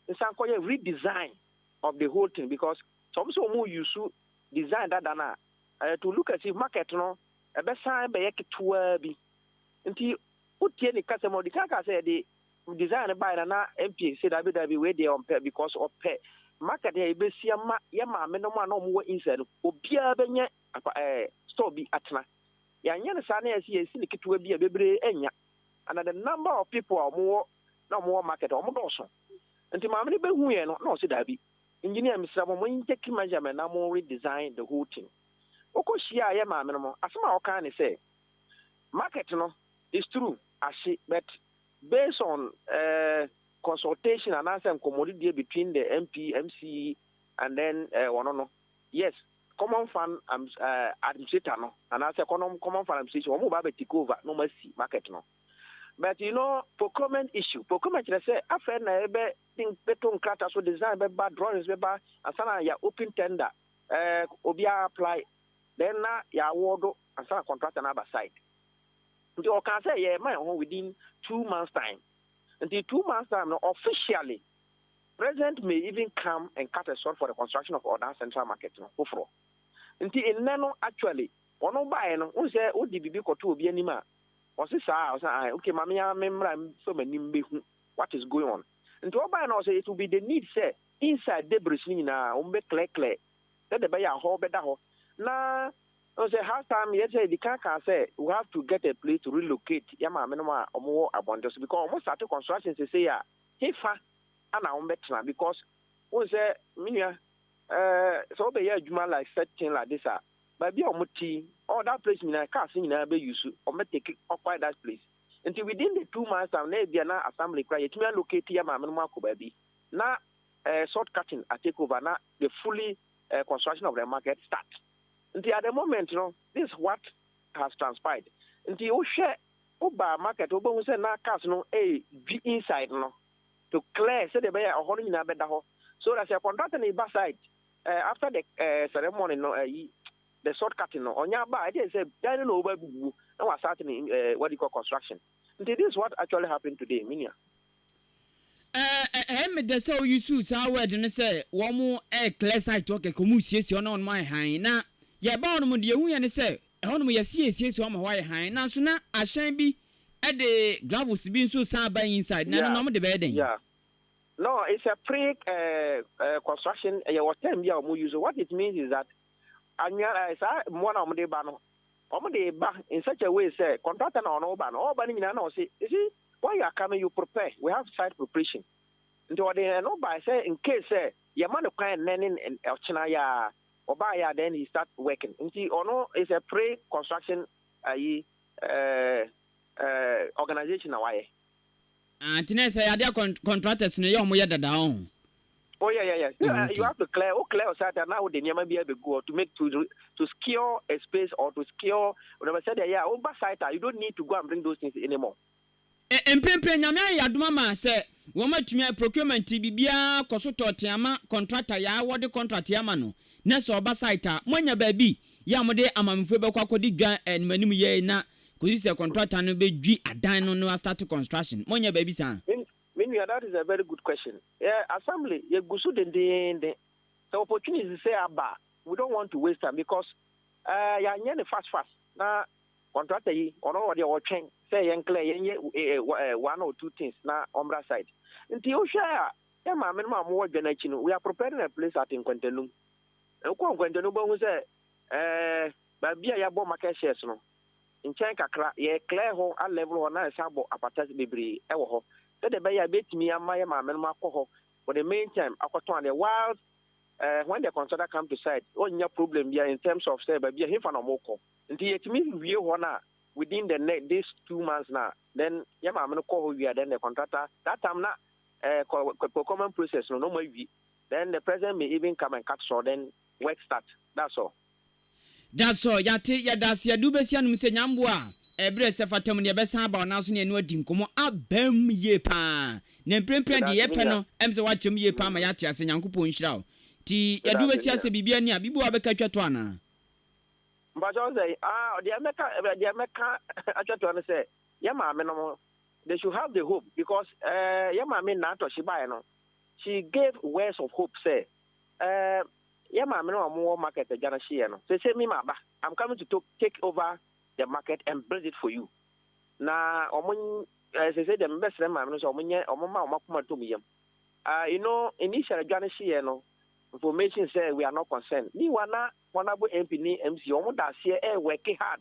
nsan kɔ yɛ redesign of the whole thing because sɛ wɔn sɛ wɔn use design dada no a to look as if market no ɛbɛsan bɛyɛ ketewaa bi nti wotie ne kasa mu ɔde kan kaa sɛ yɛde design no bae na na MP sɛ dabi dabi wei deɛ ɔmpɛ because ɔpɛ market yɛ yɛbɛsi ama yɛ maame no mu a na wɔn wɔ inside no obiara bɛnyɛ apa ɛɛ eh, store bi atena yɛanyɛ no saa na yɛsi yɛsi ne ketewa bi a bebree anya and the number of people a wɔn wɔ na wɔwɔ market a, wɔdɔɔso. Nti maame no bɛhuuiɛ no, na ɔse daabi, engineer mesrɛ mo, mo take measurement na mo redesign the whole thing. Wokɔ hyiaaeɛ maame no mo, asem a ɔkaa ne sɛ, market no, it's true, ahye but based on eh, consultation anaasɛ nkɔmmɔdidie between the MP, MC and then eh, wɔno no, yes, common fund eh, administrator no anaasɛ common fund administration, wɔn mo ba abɛ take over na wɔn asi market no. but you know procurement issue procurement kyerɛ sɛ afei na yɛbɛ bɛto nkrata so design bɛba drawings bɛba ansa na yɛ open tender ɛɛ eh, obiara apply then na yɛ award ansa na contractor na aba side nti ɔka sɛ yɛ ma yɛn ho within two months time nti two months time no officially president may even come and cut a short for the construction of ɔdan central market no foforɔ nti nnɛ no actually wɔn baeɛ no n sɛ wodi biribi kɔto obi anim a Ɔse saa a? Ɔse ae okay ma me ara me mmra mfa m'ani mbehu what is going on. Nti ɔbae na ɔse it will be the need sɛ inside debris no nyinaa wɔn bɛ clear clear sɛdeɛ ɛbɛyɛ a hɔ bɛda hɔ na Ɔse sɛ half time yɛ sɛ yɛdi kan kaa sɛ we have to get a place to relocate yɛn maame nom a wɔn wɔ abɔnten so because wɔn starte construction sesei a he fa na wɔn bɛ tena because wohu sɛ me nua eh sɛ wo bɛ yɛ adwuma like such thing like this a baabi a wɔn te yi all that place nyinaa cars nyinaa bɛ use wɔn bɛ take occupy that place nti within the two months time na ebia na assembly kura yɛtumi allocate yɛ maame no mu akɔ baabi na eh, salt cutting a take over na the fully eh, construction of the market start nti at the moment no this is what has transpired nti wohwɛ woba market wobɛhu sɛ na cars no eh, dwi inside no to clear sɛdeɛ ɛbɛyɛ ɔhɔ no nyinaa bɛda hɔ so that sɛ contractor no ba site Eh after the eh ceremony no eh yi the short cutting no ɔnyɛ aba a ɛdeɛ sɛ dan no na ɔba abubu na wa start ne eh what do you call construction nti this is what actually happened today me nua. Eh eh ɛyɛ me dɛ sɛ wo use saa word no sɛ wɔn eh clear site hɔ kɛkɛ wɔn siesie hɔ na wɔn ayɛ hann na yɛ ba hɔ nom deɛ yɛhu yɛ ne sɛ ɛhɔ nom yɛ se yɛ siesie hɔ ama hɔ ayɛ hann nanso na ahyɛn bi ɛde gravels bi nso san ba inside na ɛno na wɔn de bɛyɛ dɛn. Yeah. No, it's a pre eh, construction, ɛyɛ wɔ term bi a wɔn use, what it means is that anwia eh, saa mmoa na wɔn de ba no, wɔn de ba in such a way sɛ contractor na ɔno ba no, ɔba no nyinaa na ɔsi, you see, when you are coming you prepare, we have site preparation, nti ɔde ɛno ba sɛ in case sɛ yɛ ma no kwan nnɛ ne ɔkyena yɛ a, ɔbaa yɛ a then he start working, nti ɔno is a pre construction ayi eh, eh, organization na wayɛ. Ah nti na ɛsɛ yadeɛ kɔn contractors no yɛ ɔmo yɛ dada ɔho. Oh yeah yeah yeah. Oh, okay. You have to clear, o clear site a na wode nneɛma bi abɛgu hɔ to make to to secure a space or to secure whatever sɛdeɛ ɛyɛ a woba site a you don't need to go and bring those things anymore. Ɛ mprempren Nyame ayɛ yɛadom ama sɛ wɔn atumi ayɛ procurement nti biribiara kɔ so tɔɔtee ama contractor yɛ a wɔde contract yɛ ama no na sɛ ɔba site a moanya baabi yɛ a mode amamefo yi bɛkɔ akɔdi dwa animanim yɛ na kosi sɛ kɔntrata no bɛ dwi adan no no astarte construction monyɛ baabi saa. Me nua that is a very good question yɛ assembly yɛ gu so dendeenden sɛ opportunities sɛ aba a we don't want to waste time because ɛɛ yɛ anyɛ no fast fast na kɔntrata yi ɔno ɔdeɛ ɔtwɛn sɛ yɛn clear yɛn yɛ ɛɛ one or two things na ɔmmra site nti wohwɛ a yɛ maame no ma wɔwɔ dwa no akyi no we are preparing a place at nkwantanum wokɔ nkwantanum bɛhu sɛ ɛɛ. baabi a yɛabɔ market shares no, nkyɛn kakra, yɛ clear hɔ, a level hɔ na yɛsan abɔ apata bebree wɔ hɔ sɛdeɛ ɛbɛyɛ a ɛbɛtumi ama yɛn maame nom akɔ hɔ for the main time akɔtɔn adeɛ whilst eh, when the consultant come to site, ɔnnya problem biara in terms of sɛ baabi a hefa na wɔkɔ. Nti yɛtumi wie hɔ no a within the ne this two months no a, then yɛn maame no kɔ hɔ wie a, then the contractor, that time na eh, kɔ- kɔ- procurement process no na wɔawie, then the president may even come and cut short, then work start, that's all. Da so, yɛate, yɛda ase, yɛde wo bɛsi anom sɛ nyamboa a ɛberɛ sɛ fata mu no yɛbɛsan aba wo nan so ne ɛno adi nkɔmmɔ abam yie paa na mprempren deɛ yɛpɛ no ɛm sɛ woakyerɛ mu yie paa ma yɛate ase Nyankopɔn nhyira wo nti yɛde wo bɛsi ase biribi ani a biribi wɔ a wobɛka atwa to anaa? Mpakyɛw sɛ ah deɛ mɛka deɛ mɛka atwa to no sɛ yɛ maame nom they should have the hope because eh, yɛ maame nnaatɔ she baeɛ no she gave words of hope sɛ eh, Yɛ maame no a ɔmo wɔ market agya no hyeɛ no sese me ma ba am coming to take over the market and build it for you na ɔmo eh, sese deɛ mebɛ srɛ maame no sɛ ɔmo nyɛ ɔmo ma ɔmo akoma tom yam ah you know initial adwa no hyeɛ no information sɛ we are not concerned ni wa na honorable MP ni MC ɔmo da aseɛ eh work hard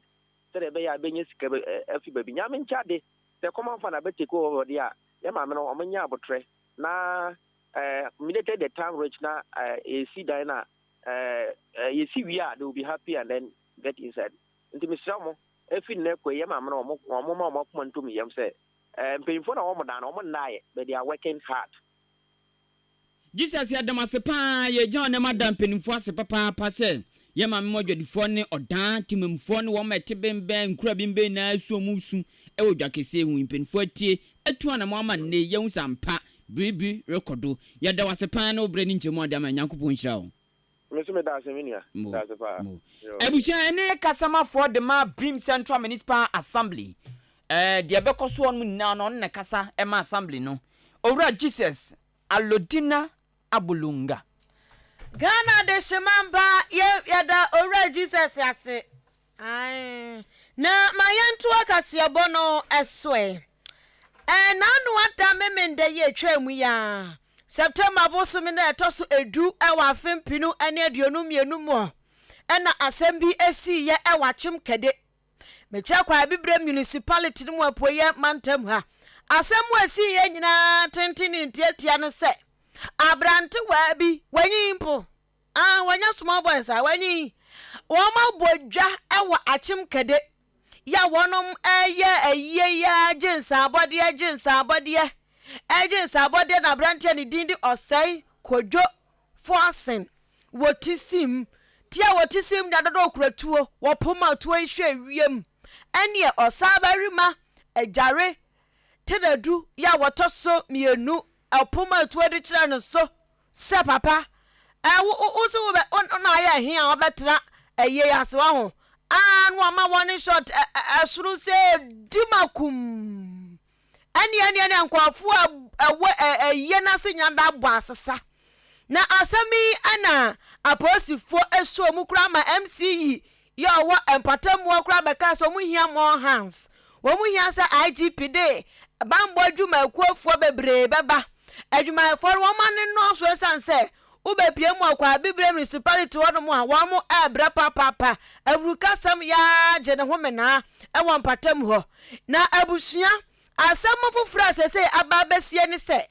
sɛ deɛ ɛbɛyɛ a bɛnyɛ sika bɛ eh, afi baabi nyame nkyɛ ade sɛ common fan abɛ take over deɛ a yɛ maame no ɔmo nyɛ abotrɛ na Eh, me dete the time reach na eh, yɛsi dan na eh, eh, yɛsi wie a they will be happy and then get inside nti mesrɛ mo ɛfi nnɛ kɔ yɛ maame no wɔn ma wɔn akoma ntom yam sɛ eh, mpanyinfoɔ na wɔn dan no wɔn nnaayɛ but they are working hard. Jesus yɛda mo ase paa yɛgya ɔnam ada mpanimfoɔ ase papaapa sɛ yɛ maame mu adwadifoɔ ne ɔdaa temamfoɔ ne wɔn ma ɛte bɛnbɛn nkura bɛnbɛn nyinaa su ɔmo su ɛwɔ dwa kɛseɛ hu mpanimfoɔ atie atu anamo ama nne yɛhu sɛ ampa Bere bi rekɔ do. Yɛda wo ase paa ne wo berɛ ne nkyɛmu a wode ama yɛn. Nyankopɔn nhyira wo. Me nso meda ase me nua. Meda ase paa. Abusua, ɛno yɛ kasamafoɔ de ma Brim Central Municipal Assembly. Ɛɛ, deɛ ɛbɛkɔ soɔ nom nyinaa no, ɔno na ɛkasa ma Assembly no. Owura Jesus Alodina Abolonga. Ghana Adehyeman baa, yɛ, yɛda Owura Jesus ase. Ae, na ma yɛntoa kaseɛbɔ no so ɛ. Ɛɛ, na ano ada Memenda yi a ɛtwaa mu yi ara, September bosome no a ɛtɔ so edu wɔ afe mpenu ne aduonum mmienu mu na asɛm bi siiɛ wɔ Akyem Kɛde, Mekyɛ Kwa Abibirem Municipality no mu Apueeɛ Mantam ha. Asɛm a ɛsiiɛ nyinaa tenten ne ntiatia ne sɛ, aberantewaa bi, wanyin mpo, Ah, wɔnyɛ small boys a wɔnyi yi. Wɔn abɔ dwa wɔ akyem kɛde yɛ a wɔnom ɛyɛ ayie yi ara gye nsaabɔdeɛ gye nsaabɔdeɛ ɛgye nsaabɔdeɛ na aberanteɛ ne din de ɔsɛe kodwo foasen wɔ ti sim ti a wɔ ti sim na dodo okura tuo wɔ poma tuo yi hwɛ wiem ɛneɛ ɔsaabarima agyare tenadu yɛ a wɔtɔ so mmienu Ɛpo mu atuo de kyerɛ no so sɛ papa. Ɛ wo wo se wo bɛ wo na ayɛ ɛhe a ɔbɛ tena ɛyie yi ase waho aa na wama one shot ɛ ɛ ɛsoro sɛ di makum ɛneɛ ɛneɛ ɛneɛ nkorɔfoɔ a ɛwɔ ɛ ɛyie no ase nyina da abɔ asesa na asɛm yi ɛna apolisifoɔ ɛsɔ mu koraa ma MC yi yɛ ɔwɔ mpɔtam mu hɔ koraa bɛkaa sɛ wɔn hia more hands, wɔn hia sɛ IGP de banbɔ adwumakuofoɔ bebree bɛba. Adwumayɛfoɔ no wɔn ano nnɔɔso ɛsiane sɛ wobɛpue mu ɔkɔ Abibire Municipality hɔnom a wɔn ɛɛbrɛ papaapa, awurukasɛm yaa gye ne ho menaa ɛwɔ mpɔtam hɔ. Na abusua, asɛm foforɔ a seesei aba abɛsie ne sɛ,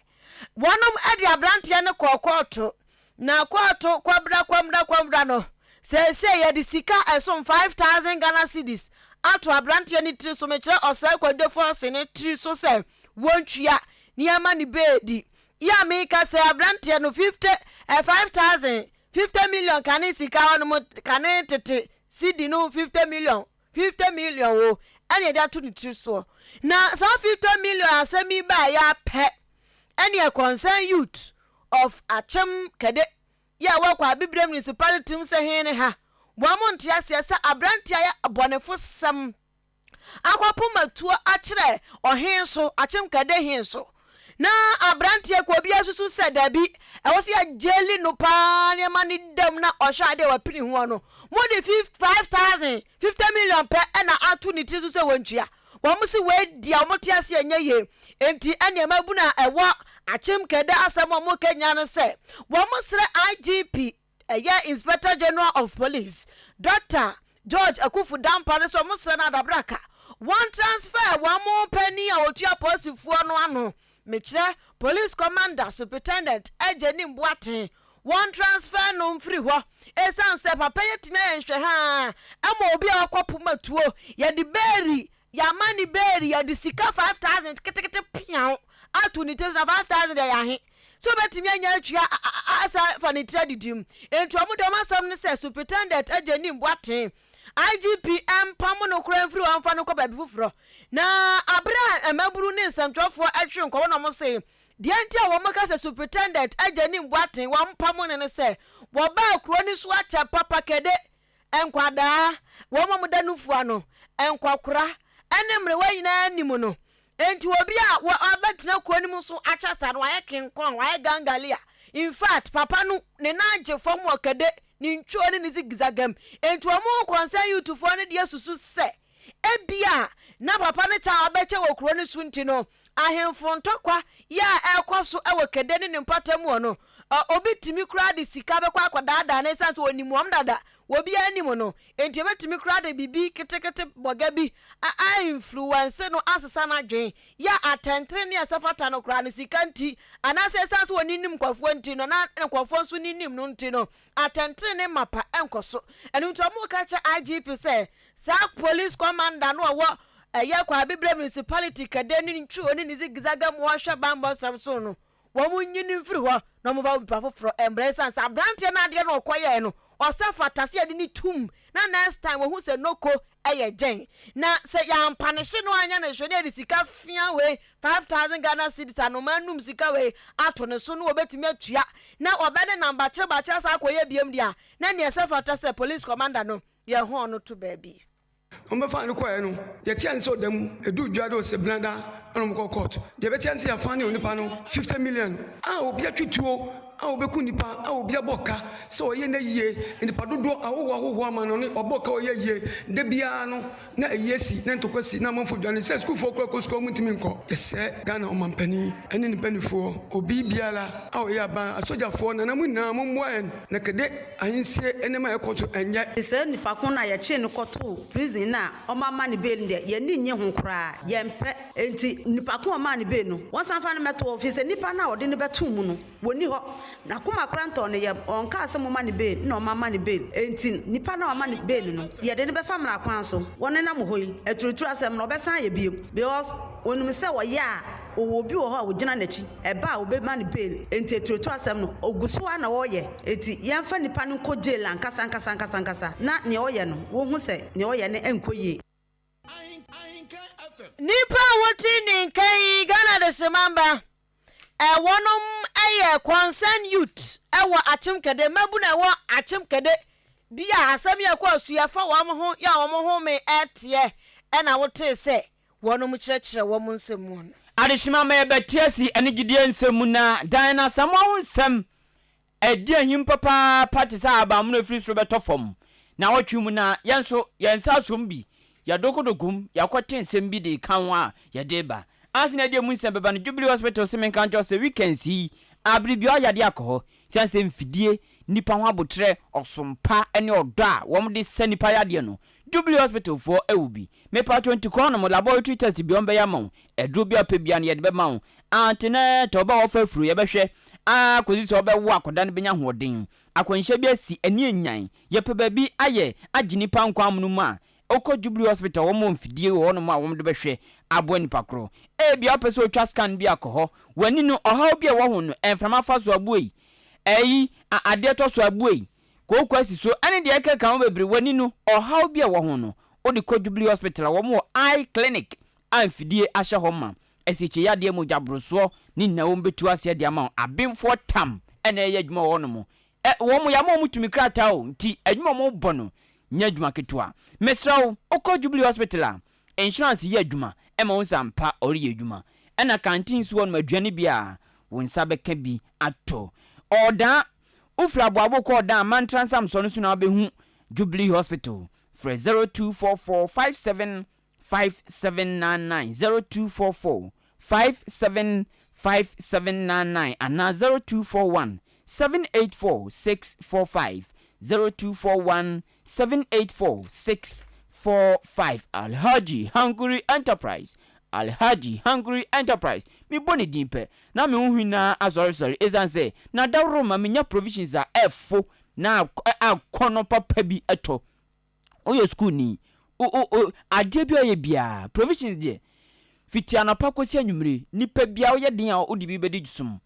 Wɔnom de abranteɛ no kɔɔ kɔɔto na kɔɔto kwabra kwamra kwamra no seesei yɛde sika ɛsom five thousand Ghana cedis ato abranteɛ no tiri so mekyerɛ ɔsɛe Kwadwo Force no tiri so sɛ wɔntua ne ama ne beedi yi a meka sɛ abranteɛ no fifty eh, five thousand fifty million kane sika hɔnom kane tete cedi no fifty million Fifty million wo ɛna yɛde ato ne tiri soɔ. Na saa fifty million asɛm yi baeɛ ara pɛ ɛneɛ concerned youth of Akyem Kɛde yi a wɔwɔ Kwaabibire Municipality mu sɛ hee ne ha, wɔn nte aseɛ sɛ aberanteɛ ayɛ abɔnefosɛm akɔpoma tuo akyerɛ ɔhee so, Akyem Kɛde hee so. Ná aberanteɛ kuo biara susu sɛ dabi, ɛwɔ sɛ yɛgyeli no pa ara na yɛma no da mu na ɔhwɛ adeɛ a wapini ho no. Mode fif, five thousand, fifty million pɛ na ato ne tiri so sɛ wɔntua. Wɔn se wei deɛ wɔte ase a ɛnyɛ yie. Enti ɛnneɛ mmabunu a ɛwɔ Akyem Keda asɛm a wɔka nyinaa ne sɛ wɔsrɛ IGP Ɛyɛ Inspector General of Police Doctor George Akuffo Dampah no sɛ wɔsrɛ no adabraka wɔn transfer wɔn panin a ɔtua polisifoɔ no ano mekyerɛ Police Commander Supritendent Agyenim Boateng wɔn transfer no mfiri hɔ ɛsiane sɛ papa yi atumi ayɛ nhwɛhaa ma obi a wakɔ poma tuo yɛde beeri yɛama ne beeri yɛde sika 5000 ketekete peaw ato ne tiri so na 5000 deɛ yɛahe sɛ obetumi anya atua asan afa ne tiri adidi mu. Enti wɔn de wɔn asɛm ne sɛ Superintendent agye nni mmu atɛn. IGP mpam no koraa mfiri hɔ mfa no nkɔ baabi foforɔ. Na bere a mmabunu ne nsɛntwerɛfoɔ hwere nkɔɔ hɔ na wɔsee deɛ nti a wɔka sɛ Superintendent agye nni mmu atɛn, wɔmpam no ne sɛ wɔbaa kuro no so akyɛ papa kɛde, nkwadaa, wɔn a wɔda nufoɔ ano, nkɔkora ne mmerewa nyinaa nim no Enti obi a wa wabɛtena kuro no mu so akyɛ saa no wayɛ King Kong, wayɛ Gangalia. In fact, papa no ne nan gye fam wɔ kɛde, ne ntwuo ne ne zigzag mu. Enti wɔn ho kɔnsɛn Youthfoɔ no deɛ susu sɛ ebia na papa no kyɛ a wabɛkyɛ wɔ kuro no so nti no, ahemfo ntɔkwa yɛ a ɛrekɔ so wɔ kɛde ne ne mpɔtam hɔ no, ɔ obi tumi koraa de sika bɛkɔ akɔdaadaa no esiane sɛ ɔnim wɔn dada wɔ obiara anim no, enti ebetumi koraa de biribi ketekete bɔga bi a mfiriwanse no asesa n'adwene, yɛ a atɛntrenee a ɛsɛ fata no koraa no, sika nti, anaasɛ esiane sɛ onnim nkurɔfoɔ nti no, na ne nkurɔfoɔ nso nnim no nti no, atɛntrenee mapa nkɔ so. Ɛno nti wɔka kyerɛ IGP sɛ saa polisi kɔmanda no a ɔwɔ ɛyɛ Kwa Abibirem Municipality Kadeni Ntwuo ne ne Zigzaga mu a ɔhwɛ bammɔ nsɛm so no, wɔnyi no mfiri hɔ na wɔmfa obi pa foforɔ mmra ɛsiane sɛ aberanteɛ no adeɛ no ɔkɔ yɛɛ no ɔsɛ fata sɛ yɛde no tum na next time wɔhu sɛ noko yɛ gyɛn na sɛ yɛampa ne hye no anyɛ no hwɛ na yɛde sika fea wei 5000 Ghana cedis anomaa num sika wei ato ne so na wɔbɛtumi atua na ɔbɛne nam bakyere bakyere saa akɔyɛ biam deɛ a na neɛ ɛsɛ fata sɛ police commander no yɛhɔn no to baabi. Wɔbɛfaa no kɔeɛ no, deɛ ɛteɛ ne sɛ ɔda mu, ɛduu dwa de ɔsebena da na wɔkɔɔ court. Deɛ ɛbɛteɛ ne sɛ yɛafaa ne onipa no 50 million a obi atwe tuo a obeku nnipa a obi abɔ ka sɛ ɔyɛ na yie nnipa dodoɔ ahɔhoɔ ahɔhoɔ ama no ne ɔbɔ ka ɔyɛ yie da biara no na ayi asi na ntɔkwa si na amanfoɔ dwane sɛ sukuufoɔ koraa kɔ sukuu a wɔn ntumi nkɔ. Yɛsrɛ Ghana ɔmanpanin ɛne ne mpaninfoɔ obi biara a ɔyɛ aban asogyafoɔ nana mo nyinaa mo mmoa yɛn na kɛde. Ahinsie nneɛma a ɛrekɔ so ɛnyɛ. Te sɛ nipa ko no a yɛkyee no kɔtoo prison no a wɔama no bail no deɛ, yɛn ani nnye ho koraa. Yɛmpɛ. Enti nipa ko a wɔmaa no bail no, wɔnsan mfa no mmɛto hɔ, ɛfiri sɛ nipa no a wɔde no bɛtoo mu no, wɔnni hɔ. N'akoma koraa ntɔɔ ne yam. Ɔnkaa sɛ momma no bail, ɛnna wɔamma no bail. Enti nipa no a wɔama no bail no, yɛde no bɛfa mmara kwan so. Wɔnenam hɔ yi, aturuturusɛm no, wɔbɛsan ayɛ bio, because wɔnim sɛ wɔyɛ a, ɔwɔ obi wɔ hɔ a ɔgyina n'akyi, ɛba a ɔbɛma no bail, enti aturuatura asɛm no ɔgu so ara na ɔreyɛ, enti yɛmfa nipa no nkɔ jail ankasa ankasa ankasa ankasa na nea ɔreyɛ no wɔhu sɛ nea ɔreyɛ no nkɔ yie. Nnipa a wote ne nka yi, Ghana Adesemamba, wɔnom yɛ Concerned Youth wɔ Akyem Kɛde, mmabunu a ɛwɔ Akyem Kɛde bi a asɛm yi a ɛkɔɔ so yi afa wɔn ho yɛ a wɔn home teɛ na wotee sɛ, wɔnom kyerɛkyerɛ wɔn nsɛm mu no. Adesoma ma yɛbɛtea si ɛne gyidie nsɛm mu na dan no Asamoah ho nsɛm a ɛdi ahim papaapa te sɛ ahabanmono a ɛfiri soro bɛtɔ fam naawɔtwe mu na yɛn nso yɛn nsa asɔ mu bi, yɛadokodogo mu, yɛakɔte nsɛm bi de reka ho a yɛde reba. Ansa na yɛde emu nsɛm bɛba no, Jubilee Hospital se menka nkyerɛ wo sɛ weekends yi, aberebiara yadeɛ akɔ hɔ. Esiane sɛ mfidie, nnipa ho aboterɛ, ɔsom pa ne ɔdɔ a wɔde sa nnipa yadeɛ no, Jubilee Hospital foɔ wɔ bi. Mepatwɔ nti kɔ hɔnom, laboratory test biara wɔbɛyɛ ama wo, aduro biara wopɛ biara no yɛde bɛma wo. Antenatal, ɔbaa a wafa afuro, yɛbɛhwɛ ara kɔsi sɛ ɔbɛwo akwadaa no bɛnya ahoɔden. Akwanhyia bi asi, ani anyan. Yɛpɛ baabi ayɛ agye nnipa nkwa amonom a, Wokɔ Jubilee Hospital, wɔwɔ mfidie wɔ hɔnom a wɔde bɛhwɛ aboa nipa koro. Ebia wopɛ sɛ wotwa scan bi a, kɔ hɔ. W'ani no, ɔhaw bi a ɛwɔ ho no, mframa fa so a, bue yi. Ayi, a adeɛ tɔ so a, bue yi. Kooko asi so, ɛne deɛ ɛkeka ho bebree. W'ani no, ɔhaw bi a ɛwɔ ho no, wode kɔ Jubilee Hospital a wɔwɔ eye clinic a mfidie ahyɛ hɔ ma. Asikyeyadeɛ, mogyaborosoɔ, ne nyinaa wɔbɛtu aseɛ de ama wo. Abenfoɔ tam na ɛyɛ adwuma wɔ hɔnom. Ɛ, wɔn yɛ ama wɔn tumi krataa o, nti adwuma a wɔbɔ no nyɛ adwuma ketewa. Mesrɛ wo, wokɔ Jubilee Hospital a, insurance yɛ adwuma ma wo sɛ ampa ɔreyɛ adwuma. Ɛna kanteen nso hɔnom, aduane bi a wo nsa bɛka bi atɔ. Ɔɔdaa, wofiri Aboabo kɔ Ɔɔdaa, Mantra Nsamsoɔ no so na wobɛhu Jubilee Hospital. Frɛ 0244 57 five seven nine nine zero two four four five seven five seven nine nine anaa zero two four one seven eight four six four five zero two four one seven eight four six four five Alhaji Hankuri Enterprise Alhaji Hankuri Enterprise mebɔ ne din pɛ na me ho hwi no ara asɔresɔre esiane sɛ na daworo ma menya provisions a ɛfo na akɔnnɔ papa bi tɔ. woyɛ sukuuni, o o o adeɛ biara a ɔyɛ biara, provisions deɛ, fiti anɔpa kɔsi anwummere, nipa biara woyɛ den a wode bi bɛdi som,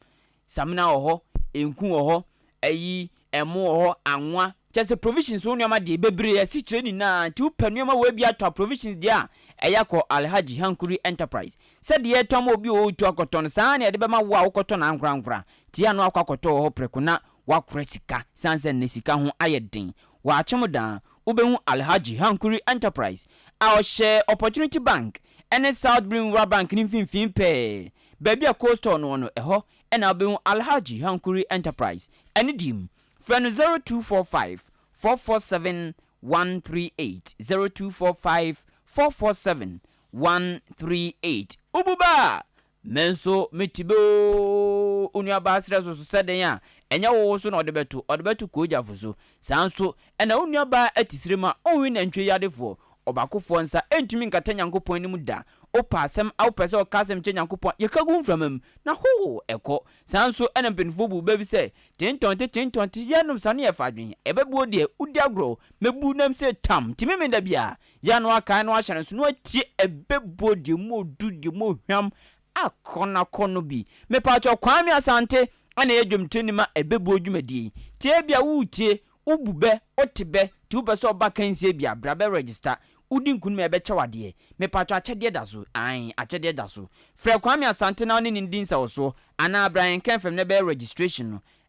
samina wɔ hɔ, nku wɔ hɔ, ayi, ɛmo wɔ hɔ, anwa, kyerɛ sɛ provisions wo nneɛma deɛ bebree, asikyire nyinaa, nti wopɛ nneɛma wei bi atɔ a provisions deɛ a, ɛyɛ akɔ Alhaji Hankuri Enterprise, sɛdeɛ yɛtɔn ma obi a ɔretu akɔtɔ no, saa ara na yɛde bɛma wo a wokɔtɔ no ankorankora, nti yɛ a na wakɔ akɔtɔ wɔ hɔ prɛko na Woakora sika sane sɛ nnɛ sika ho ayɛ den. Wɔakyem daa, wobɛhu Alhaji Hankuri Enterprise a ɔhyɛ Opportunity Bank ne South Brim Rural Bank no mfimfini pɛɛ. Baabi a Cold Store no wɔ no, ɛhɔ na wobɛhu Alhaji Hankuri Enterprise. Anidie mu. Frɛ no 0245 447 138, 0245 447 138. Wobu bɛ a, Me nso me ti bɛ oo Wo nuabaa serɛ so so sɛ dɛn a Ɛnyɛ wo wo so na ɔde bɛto Ɔde bɛto kogyafo so Saa nso na wo nuabaa atisire ma Onwe nantwie yadefoɔ Ɔbaakofoɔ nsa ntumi nkata Nyankopɔn anim da Wopɛ asɛm a wopɛ sɛ ɔka asɛm kyɛ Nyankopɔn a yɛka gu mframa mu Na hoo ɛkɔ Saa nso na mpanimfoɔ buu bɛ bi sɛ Tentɔnte tentɔnte Yɛnnom sa na yɛfa adwene Ɛbɛboɔ deɛ wodi agorɔ Mɛbu nam se tam Timi me da biara Yɛn a na wɔakae no ahyɛ no nso, na wɔatie ɛbɛbuo deɛ mu ɔdu, deɛ mu ɔhwam akɔnakɔ no bi. Mepaakyɛw, Kwame Asante na ɛyɛ dwomtoni ma ɛbɛbuo dwumadie yi. Nti ebia woretie, wobu bɛ, wote bɛ, nti wopɛ sɛ ɔba akansie bi a, bra bɛ register. Wodi nkunim a yɛbɛkyɛ wo adeɛ. Mepaakyɛw akyɛdeɛ da so, ae, akyɛdeɛ da so. Frɛ Kwame Asante na wone no nni nsawɔsoɔ, anaa bra yɛn Kmfm na ɛbɛyɛ registration no.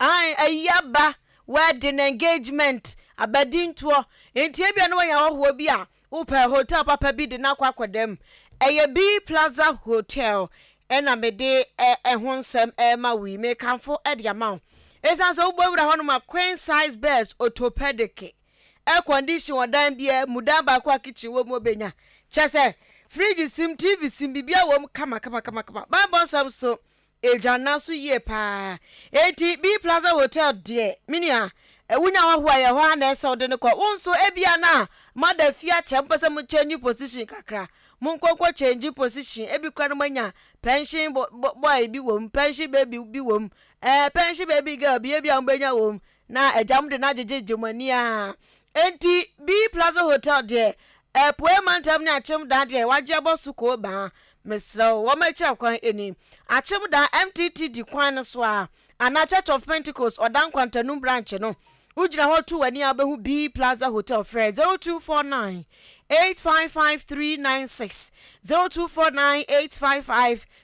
Aane, ayi aba wedding, engagement, aba dintoɔ, nti ebia na wanya hɔhoɔ bi a wopɛ, hotel papa bi de no akɔ akɔda mu, ɛyɛ B Plaza Hotel na mede ɛho nsɛm rema wo yi, mekamfo de ama wo, ɛsiane sɛ wobɔ wura hɔnom a, queen size beds, orthopedic, air condition wɔ dan biara mu, dan baako a kitchen wɔ mu ɔbɛnya, kyerɛ sɛ fridge sim, TV sim, biribiara wɔ mu kama kama kama kama, Bible nsɛm nso Agya no aso yie paa. Enti B Plaza Hotel deɛ me nua wo nya hɔho a yɛ hɔ ara na ɛsɛ wode no kɔ. Wo nso ebia na moada fie akyɛ mopɛ sɛ mo change position kakra. Monkɔ nkɔ change position ebi koraa na moanya pension boy bi wɔ mu, pension baby bi wɔ mu, eh, pension baby girl bi ebia mobɛnya wɔ mu. Na agya mo de no agyegyegye mo ani aa. Enti Bee Plaza Hotel deɛ, Apueɛ Mantam ne Akyemdaa deɛ wagye abɔ so koo baa. Mesrɛ wo, wɔma akyira kwan ani. Akyemdaa, MTTD kwan no so aa, anaa Church of Pentecost, Ɔda Nkwantanum branch no. Wogyina hɔ to w'ani aa wobɛhu Bee Plaza Hotel. Frɛ 0249 855 396, 0249 855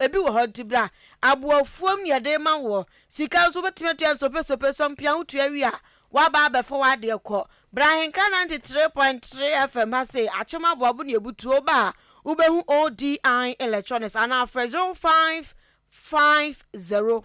Ebi wɔ hɔ nti bere a aboɔfuom nea yɛde rema wo wɔ sika nso wobɛtumi atua nsopesope sɔ mpia wotua wie a woaba abɛfa w'adeɛ kɔ. Bra Ahenka ninety three point three FM ha sei akyem aboabo ne abutuo woba a wobɛhu ODI electronics anaa frɛ zero five five zero.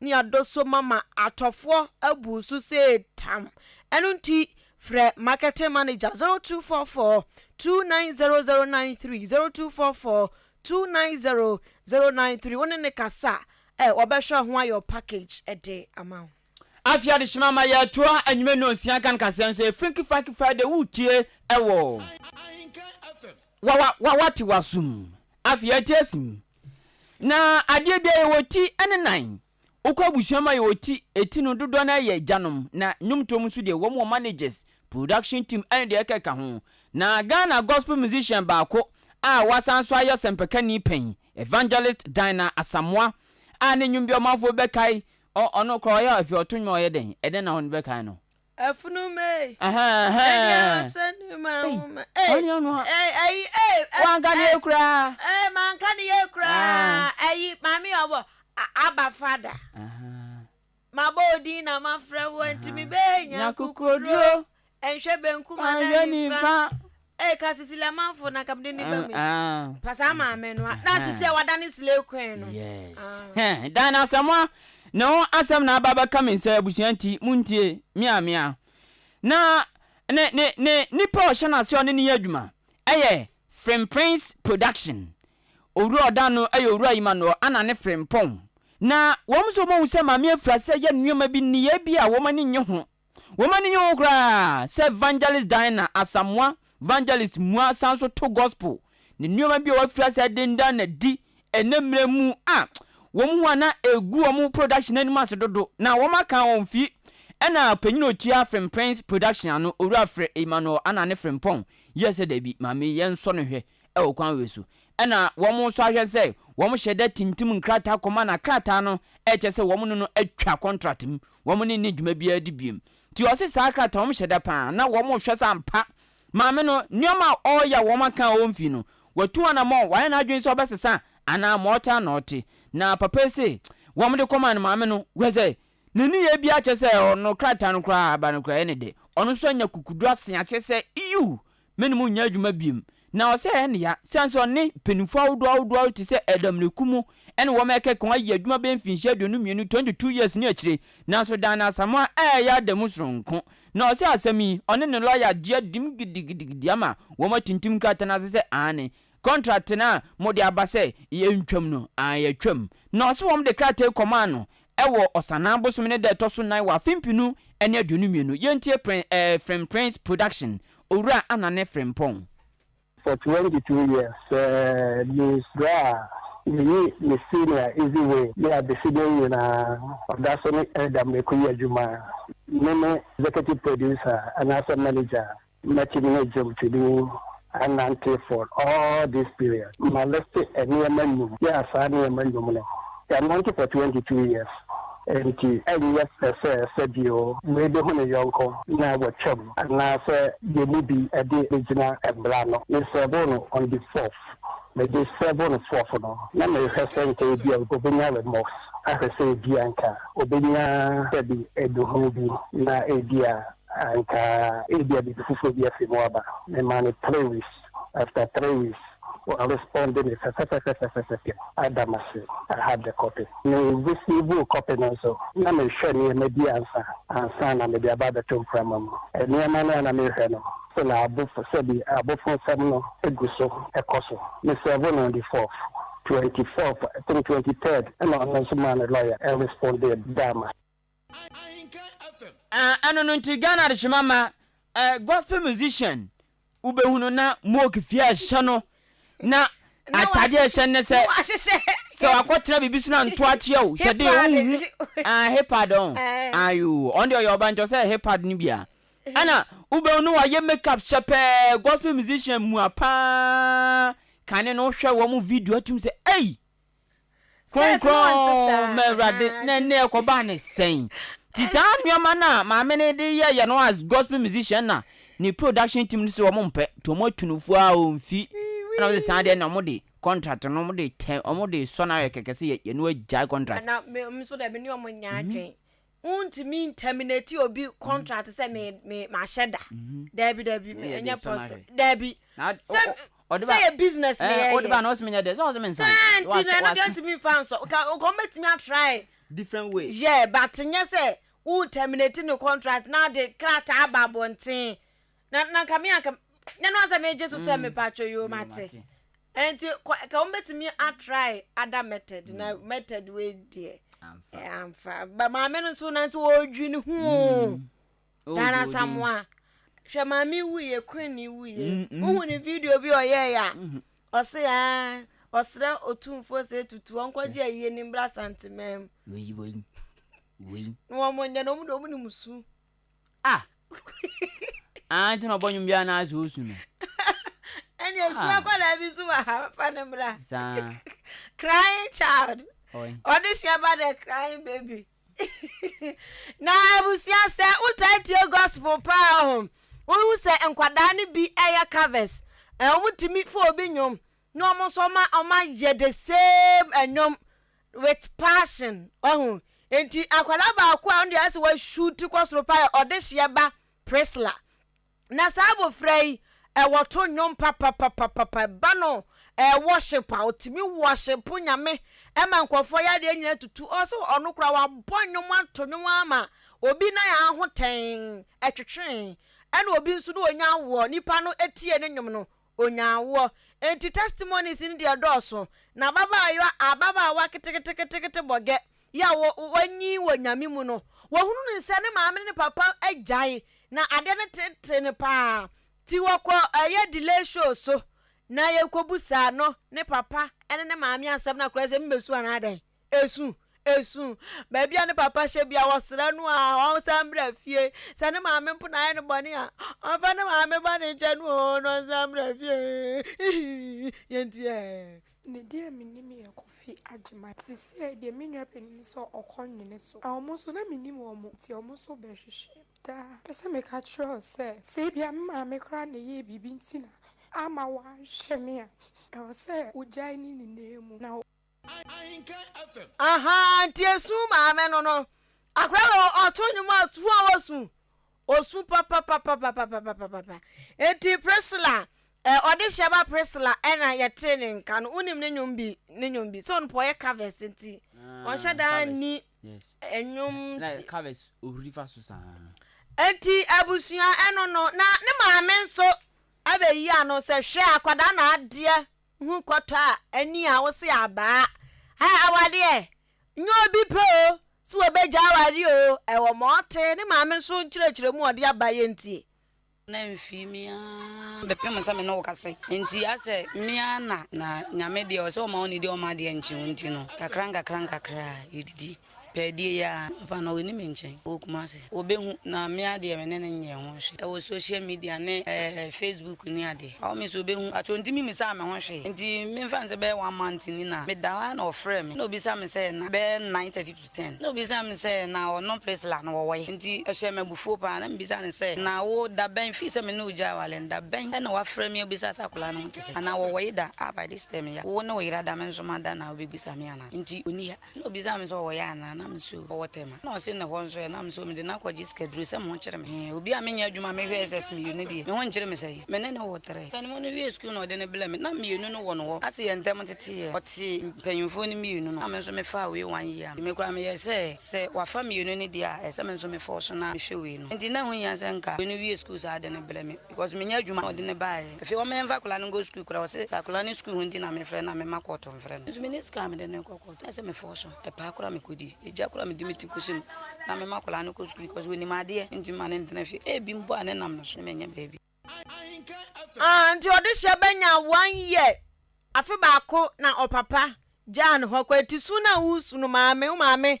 ne adɔsɔ mu ama atɔfoɔ abu so sɛ tam. Ɛno nti, frɛ Marketing Manager 0244 290093, 0244 290093, wo ne no kasa a wɔbɛhwɛ ho ayɛ wo package de ama wo. Afei adehyema ama yɛatoa anwummerɛ nnɔnsia nka no kaseɛ no so yɛ Funky Funky Friday woretie wɔ Wawa Wawa Tiwa so mu. Afei ate asi mu. Na adeɛ biara yɛwɔ ti ne nan. Wokɔ abusua mu a yɛwɔ ti, ɛti no dodoɔ no ara yɛ agyanom na nnwomtoɔ mu nso deɛ wɔn wɔ managers, production team ɛne deɛ ɛkeka ho. Na Ghana gospel musician baako a wasan nso ayɛ ɔsɛmpakani panyin, Evangelist Dinah Asamoah a ne nnwom bi a ɔmanfoɔ bɛkae ɔ ɔno koraa ɔyɛ afei ɔto nnwom a ɔyɛ dɛn? Ɛdɛn na wɔbɛkae no? Afunumae. Ɛne awasa ni ma nwoma. Ɛne ɔno ha. Ɛyi ɛyi. Wanka ne yɛ koraa. Ɛɛ manka ne yɛ koraa. Ɛyi maame yɛ ɔbɔ aba fada. Mabɔ odin na mafrɛ wo nti mebɛɛ nya kukuduro. Ɛnhwɛ benkum anaa nifa. Eii ka Cecilia manfo na nka mede ne ba mi pa saa maame no a na Cecilia wadane slay queen no yes hɛn dan na asɛmoa ne ho asɛm na aba bɛka me nsɛ abusua nti montie me a me a na ne ne ne nipa a ɔhyɛ n'ase ɔne ne yɛ adwuma ɛyɛ Frimprince production owura ɔdan no ɛyɛ owura Emmanuel ana ne Frimpong na wɔn nso wɔn ahu sɛ maame afira sɛ yɛ nneɛma bi nneyɛɛ bi a wɔn ani nye ho Wɔn ani nye ho koraa sɛ Vangelist Diana Asamoah, Vangelist Mua san nso to Gospel ne nneɛma bi a wɔafiri ase a dendan no adi ɛnnɛ mmerɛ mu a wɔn ho a na ɛgu wɔn production anim ase dodo na wɔn aka wɔn fi ɛna panyin a ɔtua Fremprenz Production ano, Owura Fre Emmanuel Anane Frempong yɛɛ sɛ dabi, maame yɛnsɔ no hwɛ. wɔ kwan wei so. Ɛna wɔn nso ahwɛ sɛ wɔn hyɛ da tintim nkrataa kɔma no a krataa no kyɛ sɛ wɔn ne no atwa contract mu, wɔn ne nni dwuma biara di biom. Nti ɔse saa krataa wɔn hyɛ da paa na wɔn hwɛ sɛ ampa maame no nneɛma a ɔreyɛ a wɔn aka a ɔmfii no watu anamɔn, wayɛ n'adwene sɛ ɔbɛsesa anaa ma ɔte a na ɔte. Na papa yi se wɔn de kɔmaa no maame no, wohwɛ sɛ Ne nneyɛɛ biara kyerɛ sɛ ɔno krataa no koraa a aba no koraa ɛyɛ ne de. Ɔno nso anya kukudu ase aseɛ sɛ Iu! Me ne mo nyɛ adwuma biom. Na ɔsɛ ɛyɛ ne ya, siane sɛ ɔne mpanyinfoɔ ahodoɔ ahodoɔ ahodoɔ te sɛ Adamunne Ku mu ɛne wɔn a ɛkeka ho ayɛ adwuma bɛyɛ mfinhyia aduonu mmienu, 22 years, ne akyire. Nanso daa no Asamoah a ɛyɛ adamu soronko. Na ɔsɛ asɛm yi, ɔne ne lɔya gye adim gidigidigidi ama wɔn atintim krataa no ase sɛ aane, Contract no a mode aba sɛ yɛntwam no, aane yɛatwam. Na ɔse wɔn de krataa yi kɔmaa no wɔ Ɔsanaa bosome ne da a ɛtɔ so nan wɔ afe mpenu ne aduonu mmienu. Yɛntie Prin eh Film Prince Production Owura Anane Frimpong. For twenty two years sɛ me bra a meyi me senior easy way ne adesede nyinaa ɔda so ne ɛda mɛkɔ yi adwuma me ne executive producer anaasɛ manager Mɛte me agya ti bi anante for all this period. Ma liste nneɛma nnwom. Yeah, saa nneɛma nnwom no. Yɛanante for twenty two years, enti ɛnyɛ pɛsɛɛsɛ bio. Wei behu ne yɔnko na watwam, anaasɛ yɛn mu bi de begyina mmara ano. Me sɛɛvoo no on the fourth. Mede sɛɛvoo no fourth no, na merehwɛ sɛ nka ebia obenya remorse, ahwɛ sɛ ebia nka obenya dabi aduhuw bi, na ebia Anka ebia biribi foforɔ bi afi mu aba. Memaa no three weeks, after three weeks wɔarespɔnde me fɛfɛfɛfɛfɛfɛ. Adam ase, I had the copy. Me receivoo copy no nso, na mehwɛ nneɛma bi ansa ansa na mede aba abɛto mprama mu. Nneɛma no a na merehwɛ no, still abofo sɛbi abofonsɛm no gu so kɔ so. Me serve no on the fourth, twenty fourth, I think twenty third na ɔno nso maa ne lawyer respondee daa me ase. Eh ɛno no nti Ghana adehyema ma eh, gospel musician wo bɛ hu no na mook fie a ɛhyɛ no na ataadeɛ a ɛhyɛ no ne sɛ sɛ wakɔ tena biribi so na nto akyeɛ o hyɛ den wo nhu ah hipad ɔn ayoo ɔn deɛ ɔyɛ ɔba nkyɛ sɛ hipad no bi a ɛna wo bɛ hu no wayɛ make up hyɛ pɛɛ gospel musician mua paa kane no hwɛ wɔn video atum sɛ ei Kronkron ma Awurade. Na ɛnnɛ ɛkɔbaa no sɛn? Nti saa nnoɔma no a maame no de yɛ yɛ no as gospel musician na ne production team no se wɔn mpɛ nti wɔn atu no fua o nfi ɛna wɔn se saa deɛ na wɔn de contract no wɔn de tɛ wɔn de sɔ no ayɛ kɛkɛ se yɛ yɛ no agyae contract. Ɛna me nso dɛ me ne wɔn nyɛ adwen. Wontumi nterminate obi contract sɛ me me mahyɛ da. Dabi dabi me ɛnyɛ pɔs dabi. Sɛ sɛ yɛ business na yɛyɛ. Wode ba na ɔsɛ menyɛ dɛ sɛ ɔsɛ me nsan. Sɛ nti no ɛno deɛ ntumi nfa nsɔ nka wɔn bɛtumi atry. Different way. Yeah but nyɛ sɛ wo terminate ne contract na ɔde krataa aba abɔnten na na nka me anka nyɛ no asɛ megye so sɛ mm. mepatwo yo mate nti ka wɔbɛtumi atrae ada method na mm. method wei deɛ amfa eh, maame no nso nanso wɔredwi ne ho mm. oh, dana samoa hwɛ maame wuyɛ kwenni wuyɛ wohu ne video bi ɔyɛeɛ a mm-hmm. ɔse a ah, ɔserɛ ɔtumfoɔ sɛ tutu ɔnkɔgye ayie ne mmra santemam na wɔmonyɛ no ɔmde ɔmne mu su Ah ah nti na ɔbɔ nwom biara na asɛ osu no. Ɛne osu akwadaa bi nso wɔ ha fa ne mmra. Saa. Crying child. Ɔy. Ɔde sua ba dɛ crying baby. na abusua sɛ wotaa tie gospel paa hɔ wohu sɛ nkwadaa no bi ɛyɛ covers. Ɛwɔ mo tumi fo obi nwom Na ɔmo nso ɔma ɔma yɛ the same ɛnwom with passion wahu nti akwadaa baako a ɔno deɛ ayɛsɛ wa shoot kɔ soro paa yɛ ɔdehyeɛ ba Priscilla na saa abofra yi ɛwɔ to nnwom papapapapa ba no ɛɛ worship a ɔtumi worship nyame ɛma nkorɔfoɔ yɛ adeɛ nyina tutu ɔsɛ ɔno koraa wabɔ nnwom ato nnwom ama obi na yɛ ahotɛn ɛtwetwee ɛna obi nso na ɔnya awoɔ nipa no etie ne nnwom no Onyaa awoɔ. Enti testimonies no deɛ dɔɔso. Na ababaayewa ababaawa keteketekete bɔgɛ yi a wanyin wɔ Nyame mu no, wahunu no sɛ ne maame ne ne papa agyae na adeɛ no tete no paa. Nti wɔkɔ yɛ delay show so na yɛkɔbu saa no ne papa ne ne maame asɛm no akorɛ sɛ me bɛsu anaa dɛn. Esu, esu. Baabi a ne papa hyɛ bia, ɔsrɛ no a ɔnsan bra fie. Sɛ ne maame mpo na ayɛ no bɔne a, ɔmfa ne maame bɔne nkyɛ no o, na ɔnsan bra fie. Yɛntie ɛ. Me deɛ menim yɛ Kofi Agyeman. Seisei deɛ me nua panin no sɛ ɔkɔ nwene so. Wɔn nso na menim wɔn nti wɔn nso bɛhwehwɛ me daa. Mepɛ sɛ meka kyerɛ wo sɛ, sɛ ebia me maame koraa na ɛyɛɛ biribi nti na amma wanhwɛ me a, ɛwɔ sɛ wogyae ne nyinaa mu na wo. ahaa nti esu maame no no akora wɔ ɔto nnwom a tu a wɔsu osu papapapapapapapa nti priscilla ɛ ɔde hyɛ ba priscilla ɛna yɛte ne nka no wonim ne nnwom bi ne nnwom bi sɛ ɔno pɔ ɔyɛ covers nti ɔnhyɛ ah, daa ni nnwom si covers ohuri fa so saa nti abusua ɛno no na ne maame nso abɛyi ano sɛ hwɛ akwadaa na adeɛ Hu kɔtɔ a ani a wo se abaa. Ɛ awade ɛ nyɛ obi pɛ o se wɔ bɛ gya aware o ɛ wɔ ma ɔte ne maame nso nkyerɛkyerɛ mu ɔde aba yɛ ntie. Na mfii me aa bɛ pem sɛ me ne wo ka se nti asɛ me aa na na Nyame deɛ ɔse ɔma wo ne deɛ ɔma adeɛ nkye wo nti no kakra nkakra nkakra yɛ didi. Pɛɛdie yi ara papa no ɔnni me nkyɛn wɔ Kumasi. Ɔbɛhu na me ara deɛ me ne no nyɛɛ ho hwee wɔ social media ne Facebook ne adeɛ. Ɔwɔ me sɛ ɔbɛhu but ɔntumi mmisaa me ho hwee nti memfa no sɛ bɛyɛ one month ni na meda hɔ ara na ɔfrɛɛ me na ɔbisa me sɛ na bɛyɛ nine thirty to ten na ɔbisa me sɛ na ɔno Priscilla no ɔwɔ he nti ɛhyɛɛ me abufuo pa ara na mebisa no sɛ na wo da bɛn firi sɛ me ne wo gyae aware no da bɛn na wafrɛ me abisa sɛ akwadaa no ho te sɛn anaa ɔwɔ he da a by this time yi a wo ne wo yere ada me nso mada na wobɛbisa me anaa nti ɔnni ha. Nna obisaa me sɛ ɔwɔ yɛ anaa, na mese ɔwɔ Tema. Nna ɔse ne hɔ nso ɛ, na mese mede no akɔgye sikaduro sɛ me ho kyere me. Hee, obi a menyɛ adwuma a mehwɛ SS mmienu no deɛ, me ho nkyere me sɛn? Me ne no wɔ trɛ. Panyinfoɔ no wiee sukuu na ɔde no blɛɛ me, na mmienu no wɔ no hɔ. Ase yɛn ntɛm teteeɛ, ɔtee mpanyinfoɔ no mmienu no, na me nso mefaa wei one year no. Me koraa meyɛɛ sɛ, sɛ wafa mmienu no deɛ a, ɛsɛ me nso mefɔɔso na mehwɛ wei no. Enti na ɛho hia sɛ nka wei no wie sukuu saa de no blɛ me. Because me nya adwuma na ɔde no baeɛ. Afei wɔn yɛnfa akwadaa no nkɔ sukuu koraa ɔse sɛ akwadaa no sukuu ho nti na mefrɛ no a mema kɔɔto mfrɛ no. Nso me nni sika a mede no rekɔ kɔɔto. Ayɛ sɛ me fɔɔso. Ɛpaa koraa me kɔdi. Egya koraa mede me ti kɔsi mu na mema akwadaa no kɔ sukuu because ɔnim adeɛ nti mema no ntena fie. Ebi mpo a ne nam no so na manya baabi. Aah nti ɔdehyeɛ bɛnya one year afe baako na ɔpapa gyaa no hɔ kɔ eti su no a wosu no maame wo maame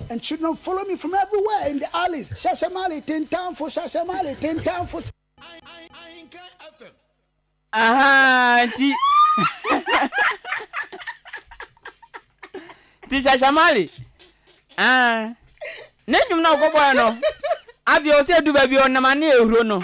And should not follow me from everywhere in the alleys Shasha Mali tentanfo Shasha Mali tentanfo. Ahaa nti nti Shasha Mali ah ne nnwom na ɔkɔbɔɛ no afei ɔsɛ ɛdu baabi ɔnam ane ahuro no.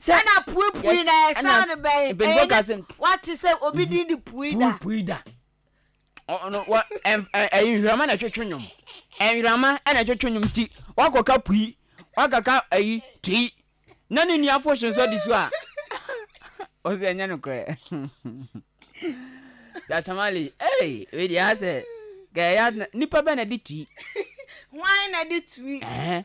sɛ ɛna pue pue na ɛsan no bɛn mpanyinfoɔ ka sɛ wate sɛ obi din de pue da pue da ɔno wɔ ɛyi nhwirama na ɛtwetwe nnwom nhwirama na ɛtwetwe nnwom ti wakɔka pui wakaka ɛyi tui na ne nua fo hyɛn so adi so a ɔsɛ ɛnyɛ no korɛ dasamali ɛyi wei deɛ asɛ kɛyɛ nipa bɛ na ɛde tui hwan na ɛde tui ɛɛ.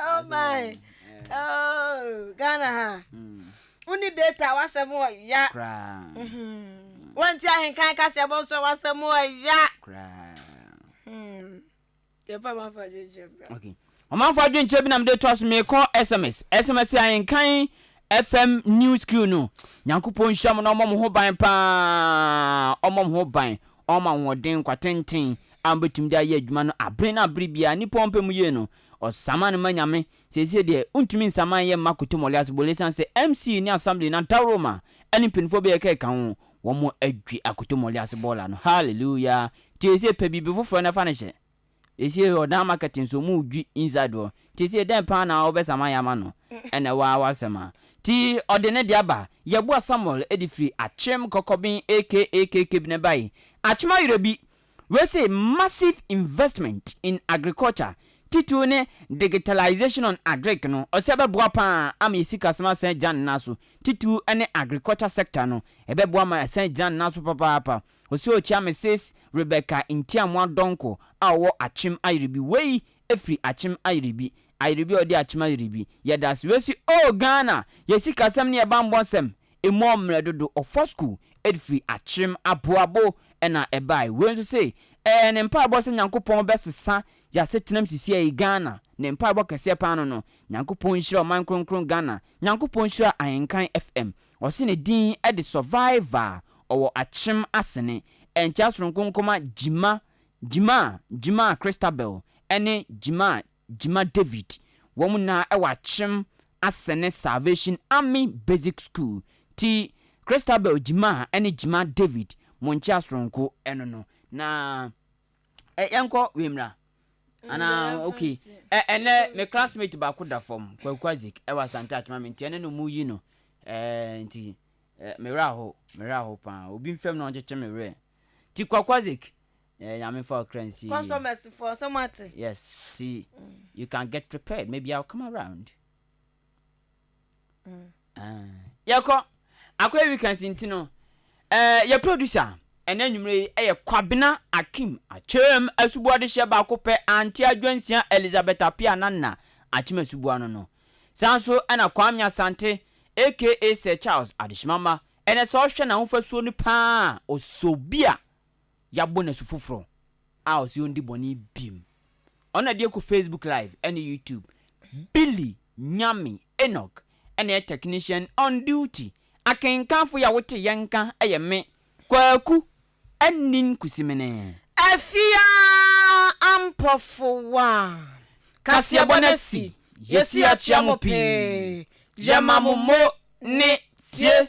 oh my oh ghana ha hmm. woni data wasɛm ɔya hmm. wanti ahenkan kaseɛ bɔ nso wasɛm ɔya yɛfa mamfa adwenkyɛ bra ɔmanfo adwenkyɛ bi na mede toa so meekɔ sms sms ahenkan fm new skill no nyankopɔn nhyira mo na ɔmmɔ mo ho ban paa ɔmmɔ mo ho ban ɔma ahoɔden nkwatenten a wobɛtumi de ayɛ adwuma no abere na abere biara, nnipa a wɔpɛ mu yie no, wɔsaman no ma Nyame. Seesei deɛ, wontumi nsaman yɛ mma Kutemmole asebɔ ɛsiane sɛ MC ne Assembly no adaworo ma ɛne mpaninfoɔ bɛyɛ ka ɛka ho, wɔn adwi Akutemmole asebɔ la no. Hallelujah! Nti seesei pɛ biribi foforɔ na fa no hyɛ. Seesei hɔ, Dan Market nso, wɔredwi inside hɔ. Nti seesei dɛn paa na wobɛsaman yɛ ama no? Ɛnna ɛwɔ ara w'asɛm a. Nti ɔde ne deɛ aba. Yeboah Samuel de firi Akyem Kɔkɔben aka KK Bene bae. Akyem ayerɛ bi, Wei se massive investment in agriculture titiriw ne digitalization on agric no ɔse ɛbɛboa paa ama yɛ sikasɛm asan agyina ne nan so titiriw ne agriculture sector no ɛbɛboa ma asan agyina ne nan so papaapa ɔse ɔkyia Misis Rebecca Ntiamoa Donkor a ɔwɔ Akyem Ayerɛbi wei firi Akyem Ayerɛbi Ayerɛbi a ɔde Akyem Ayerɛbi yɛdase wei se oh Ghana yɛ sikasɛm ne yɛ banbɔ nsɛm Emu a mmerɛ dodo ɔfa sukuu de firi akyerem aboabo na ɛbae. Wei nso se ɛyɛ ne mpaebɔ sɛ Nyankopɔn bɛsesa y'asetenam sisiɛi Ghana ne mpaebɔ kɛseɛ paa no no Nyankopɔn nhyira ɔman kronkron Ghana Nyankopɔn nhyira Ahenkan FM Ɔse ne din de Survivor Ɔwɔ akyerem asene Ɛnkyɛ asononko nkɔma Gyima Gyima Gyima Christabel ne Gyima Gyima David, wɔn nyinaa wɔ akyem asene Salvation Army Basic School, ti Christabel Gyima ne Gyima David Monkyea Soronko no no. Na ɛ yɛn kɔ wei mmra anaa ok ɛ ɛnɛ me classmate baako da fam Kwaku Isaac ɛwɔ Asante Akyema me nti ɛne no mu yi no ɛ nti ɛ me werɛ aho me werɛ aho paa obi mfam na ɔnkyekye me werɛ nti Kwaku Isaac Ɛɛ nyame fa ɔkra nsie. Customers foɔ sɛ mo ate. Yes ti you can get prepared maybe I'll come around. Mm. Ah, yɛkɔ akɔyɛ weekends nti no eh, yɛ producer ɛnɛ anwummerɛ yi ɛyɛ Kwabena Akim Akyem Asuboa de hyɛ baako pɛ Auntie Adwansia Elizabeth Apia Nana Akyem Asuboa no no saa nso ɛna Kwame Asante aka Sir Charles Adehyemama ɛnɛ sɛ ɔhwɛ n'ahofasuo no paa a ɔsɔ bi a yɛabɔ no asu foforɔ a ɔse ɔndi bɔne biom. Ɔno na ɛde ɛkɔ Facebook live ɛne YouTube. Billy Nyame Enoch ɛna ɛyɛ technician on duty. Akenkanfoɔ yi a wote yɛn nka ɛyɛ me, Kwaku Anin Kusimene. Afia Ampɔfowa, kaseɛbɔ no asi, yɛsi akyea mo pii, yɛma mo mo ne tie.